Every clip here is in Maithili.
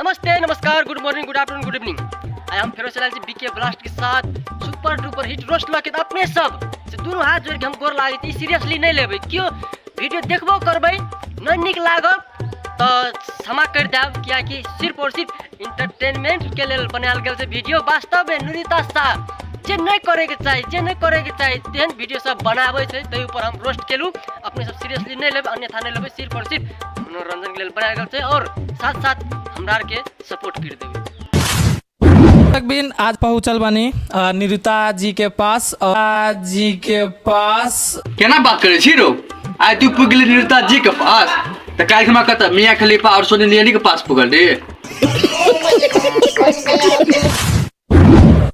नमस्ते नमस्कार good morning good afternoon good evening I हम फेरो चलाल छी बीके ब्लास्ट के साथ super duper hit roast lock अपने सब से दोनों हाथ जोड़ के हम गोर लागे छी सीरियसली नहीं लेबे क्यों वीडियो देखबो करबे न निक लागब तो क्षमा कर देब किया कि सिर्फ और सिर्फ इंटरटेनमेंट के लेल बनायल गेल से वीडियो वास्तव में नुरिता शाह जे नहीं करे के चाही जे नहीं करे के चाही तेहन वीडियो सब बनाबे छै तै ऊपर हम रोस्ट केलू अपने सब सीरियसली नहीं लेब अन्यथा नहीं लेबे सिर्फ और सिर्फ मनोरंजन के लिए बनाया गया छै और साथ साथ हमरा के सपोर्ट कर देबे तक बिन आज पहुंचल बानी अ, निरुता जी के पास अ, जी के पास केना बात करे छी रो आइ तू पुग गेली निरुता जी के पास तऽ काल्हि हमरा कतऽ मियाँ खलीफा और सोनी नियनी के पास पुगल रे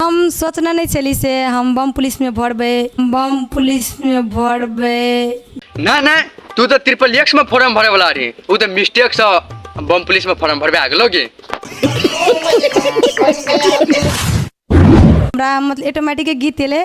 हम सोचने नहि छली से हम बम पुलिसमे भरबै बम पुलिसमे भरबै नहि नहि तू तऽ ट्रिपल एक्स में फॉर्म भरे वाला रही उ तऽ मिस्टेक से बम पुलिस में फॉर्म भरबे आ गेलो गे हमरा मतलब ऑटोमेटिक गीत एलै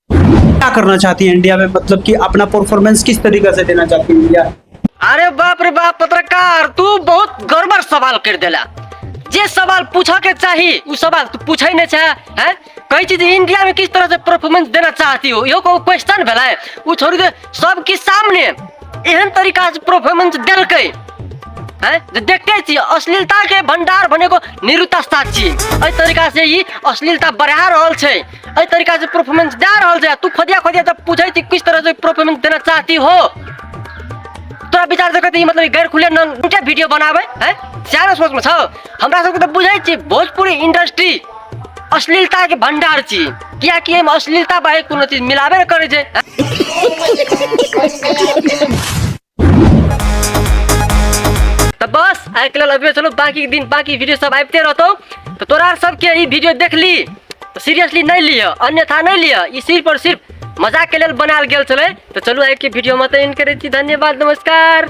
क्या करना चाहती है इंडिया में मतलब कि अपना परफॉर्मेंस किस तरीके से देना चाहती है इंडिया अरे बाप रे बाप पत्रकार तू बहुत गड़बड़ सवाल कर देला जे सवाल पूछा के चाही उ सवाल तू पूछे नहीं चाहे हैं कई चीज इंडिया में किस तरह से परफॉर्मेंस देना चाहती हो यो को क्वेश्चन भेला है उ छोड़ दे सबके सामने एहन तरीका से परफॉर्मेंस देलकै हैं जे देखते छी अश्लीलता के भंडार बने को निरुता साक्षी एहि तरीका से ई अश्लीलता बढ़ा रहल छै एहि तरीका से परफॉर्मेंस दे रहल छै तू खोदिया खोदिया तब पूछे छी किस तरह से परफॉर्मेंस देना चाहती हो तोरा विचार से कहते मतलब गैर खुले न उनके वीडियो बनावे है चार सोच में छौ हमरा सबके तो बुझे छी भोजपुरी इंडस्ट्री अश्लीलता के भंडार छी किया कि हम अश्लीलता बाहे कोनो चीज मिलाबे न करे छै तो बस आइ के लेल अभी चलो बाकी दिन बाकी वीडियो सब आबिते रहतो तो तोरा सबके ई वीडियो देख ली तो सीरियसली नहीं लिह अन्यथा नहीं लिह ई सिर्फ और सिर्फ मजाक के लेल बनाल गेल छले तो चलू आइ के वीडियो में तो इन करे छी धन्यवाद नमस्कार